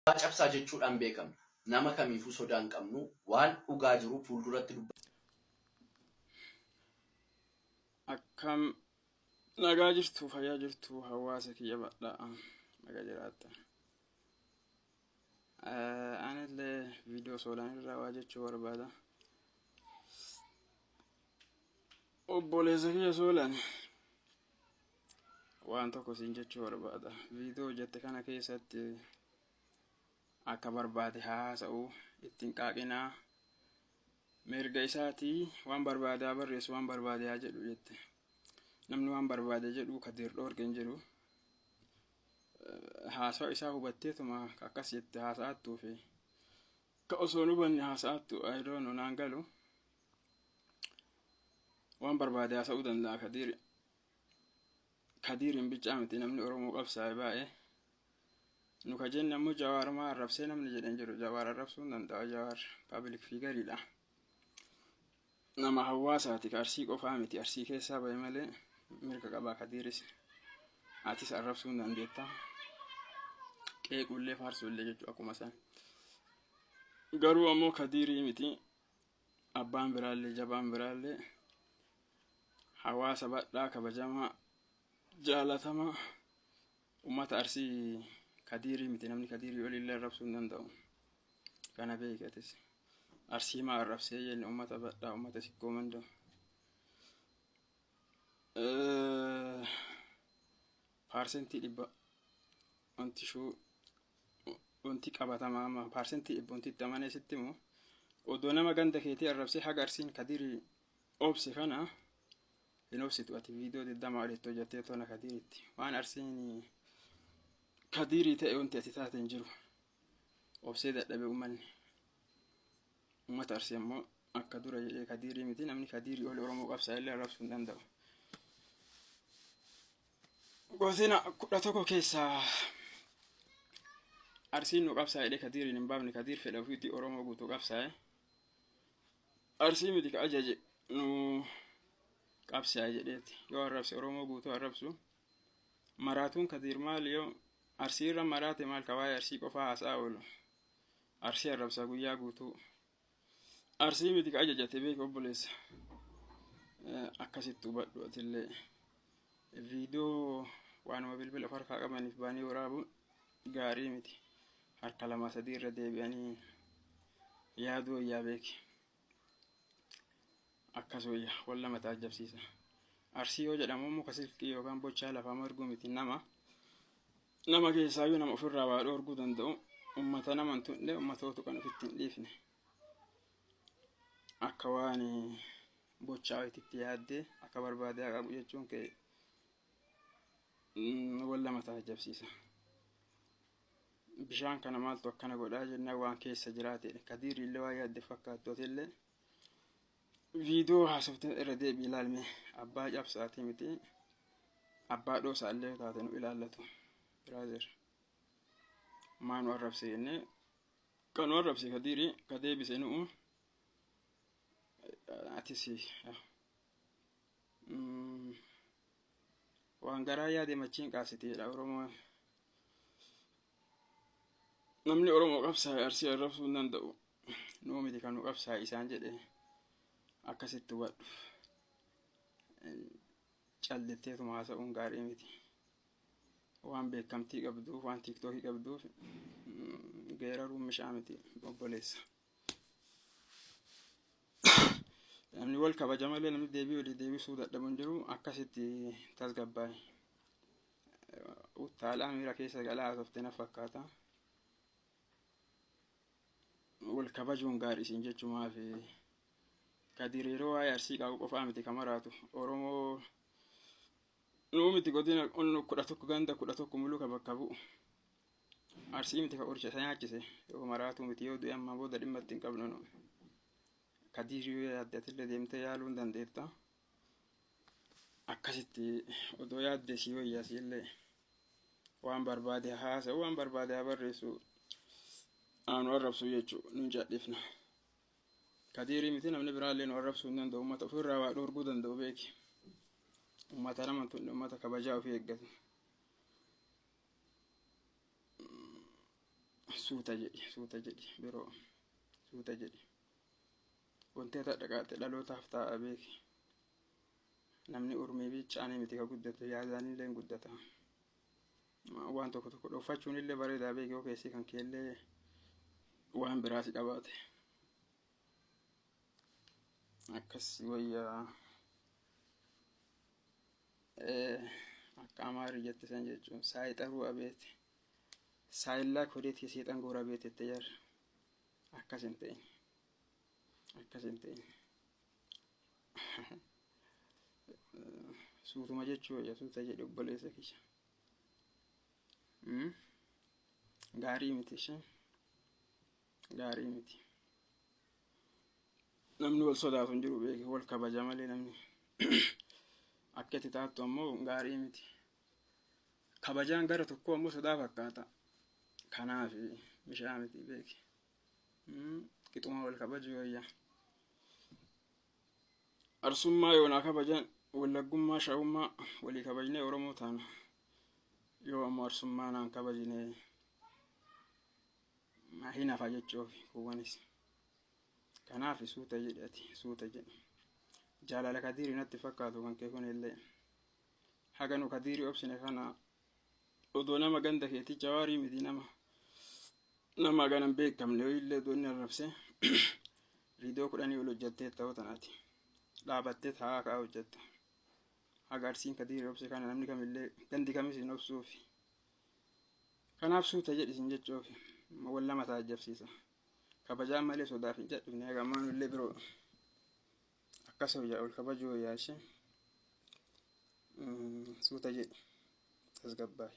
Dhugaa cabsaa jechuudhaan beekamna. Nama kamiifuu sodaa hin qabnu, waan dhugaa jiru fuulduratti dubbanna. Akkam nagaa jirtu fayyaa jirtu hawaasa kiyya badhaa naga jiraatta. Anillee viidiyoo soolaan irraa waa jechuu barbaada. Obboleessa kiyya soolaan waan tokko siin jechuu barbaada viidiyoo hojjette kana keessatti akka barbaade haa haasa'u ittiin qaaqinaa mirga isaatii waan barbaade haa barreessu waan barbaade haa jedhu jette namni waan barbaade jedhu kadiir dhoorge hin jiru haasawa isaa hubatteetuma akkas jette haasa'attuu fi ka osoo hin hubanne haasa'attu ayidoonu naan galu waan barbaade haasa'uu danda'a kadiiri kadiirin bichaa miti namni oromoo qabsaa'e baay'ee nu ka jenne ammoo jawaar maa arrabsee namni jedhe hin jiru jawaar arrabsuu hin danda'a jawaar paabilik fiigariidha nama hawaasaati ka arsii qofaa miti arsii keessaa ba'e malee mirga qabaa kadiiris atis arrabsuu hin dandeetta qeequullee faarsuullee jechuu akkuma san garuu ammoo kadiirii miti Abbaan biraallee jabaan biraallee hawaasa badhaa kabajamaa jaalatamaa ummata arsii kadiirii miti namni kadiirii olillee arrabsuu hin danda'u kana beekatis arsii maa arrabsee jenne ummata badhaa ummata sikkoo mandoo Paarsentii dhibba wanti shuu wanti qabatamaa amma paarsentii dhibba wanti itti amanee sitti himu odoo nama ganda keetii arrabsee haga arsiin kadirii obse kana hin obsitu ati viidiyoo digdamaa olitti hojjattee toona kadiriitti waan arsiin kadirii ta'e wanti ati taate hin jiru obsee dadhabe uummanni uummata arsii ammoo akka dura jedhee kadirii miti namni kadirii oli oromoo qabsaa illee arrabsuu hin danda'u. Gosina kudha tokko keessaa Arsiin nu qabsaa'edhe Kadiiriin hin baafne Kadiir fedha ofiitti Oromoo guutuu qabsaa'e. Arsii miti ka ajaje nu qabsaa'e jedheeti. Yoo arrabse Oromoo guutuu arrabsu. Maraatuun Kadiir maal yoo Arsii irra maraate maal ka waa'ee Arsii qofaa haasaa oolu. Arsii arrabsaa guyyaa guutuu. Arsii miti ka ajajate beeki obboleessa. Akkasitti hubadhu atillee viidiyoo waanuma bilbila of harkaa qabaniif baanii waraabuun gaarii miti. Harka lamaa sadii irra deebi'anii yaaduu wayyaa beeki. Akkas wayya wal lama taajjabsiisa. Arsii yoo jedhamu immoo ka silkii yookaan bochaa lafaa marguu miti nama. Nama keessaayyuu nama ofirraa waa dhoorguu danda'u ummata nama hin tuqne ummatootu kan ofitti hin dhiifne. Akka waan bochaa itti yaaddee akka barbaade haa qabu jechuun kee wal lama taajabsiisa. Bishaan kana maaltu akkana godhaa jennaan waan keessa jiraatedha. Kadiirri illee waan yaadde fakkaattu atillee Viidiyoo haasofte irra deebii ilaalme abbaa cabsaatii miti abbaa dhoosaa illee taate nu ilaallatu biraazer maa nu arrabse jennee kan nu arrabse ka diiri ka deebise nu'u atis waan garaa yaade machiin qaasiteedha oromoo namni oromoo qabsaa'e arsii arrabsuu hin danda'u nuu miti kan nu qabsaa'e isaan jedhe akkasitti hubadhu callitteetuma haasa'uun gaarii miti waan beekamtii qabduuf waan tiiktookii qabduuf geeraruun mishaa miti obboleessa namni wal kabaja malee namni deebii walii deebisuu dadhabu hin jiru akkasitti tasgabbaa'e Utaalaa miira keessa galaa haasofte na fakkaata. Wal kabajuun gaarii isin jechuu maafi? Kadir yeroo waa'ee arsii qabu qofaa miti kan maraatu. Oromoo nuu miti godina onnu kudha tokko ganda kudha tokko muluka bakka bu'u. Arsii miti kan qoricha isa nyaachise. Yoo maraatuu miti yoo du'e amma booda dhimma itti hin qabnu nu. Kadir yoo yaadde atillee deemtee yaaluu hin dandeetta. akkasitti odoo yaadde sii wayya siillee waan barbaade haasa'u waan barbaade haa barreessu aanu arrabsu jechuu nun cadhifna kadiirii miti namni biraallee nu arrabsuu hin danda'u ummata ofirraa waa dhoorguu danda'u beeki ummata nama tunne ummata kabajaa ofii eeggatu suuta jedhi suuta jedhi biroo suuta jedhi Wanti ati hadha qaate dhalootaaf taa'a beeki. Namni urmii biichaanii miti ka guddatu yaadaanillee hin guddata. Waan tokko tokko dhoffachuunillee bareedaa beeki yoo keessi kan keellee waan biraa si qabaate. Akkas wayyaa akka amaarri jette san jechuun saayixaruu abeeti. Saayillaa kodeetii seexan goora beetette jar akkas hin ta'in. akkas hin ta'in suutuma jechuu wayya suuta jedhe obboleessa kiyya Mm? gaarii miti ishee gaarii miti namni wal sodaatu hin jiru beeke wal kabaja malee namni akka itti taattu ammoo gaarii miti kabajaan gara tokkoo ammoo sodaa fakkaata kanaaf mishaa miti beeke Qixuma wal kabajuu wayya. Arsummaa yoonaa kabajan wallaggummaa shawummaa walii kabajnee Oromoo taana. Yoo ammoo arsummaa naan kabajine hin hafa jechuuf kuuwwanis. Kanaaf suuta jedhi ati suuta jedhi. Jaalala kadiiri natti fakkaatu kan kee kun illee. Haga nu kadiiri obsine kana odoo nama ganda keetii jawaarii miti nama nama hagana hin beekamne ho'iillee odoo inni arrabsee viidiyoo kudhanii ol hojjattee ta'uu tanaati dhaabattee taa'aa ka'aa hojjatta haga arsiin kadiirri obse kana namni kamillee gandi kamis hin obsuufi kanaaf suuta jedhi isin jechuufi wal lama taajjabsiisa kabajaan malee sodaaf hin jedhifne haga ammaan illee biroo Akkas hoo yaa ol kabajoo yaa ishee suuta jedhi tasgabbaa'i.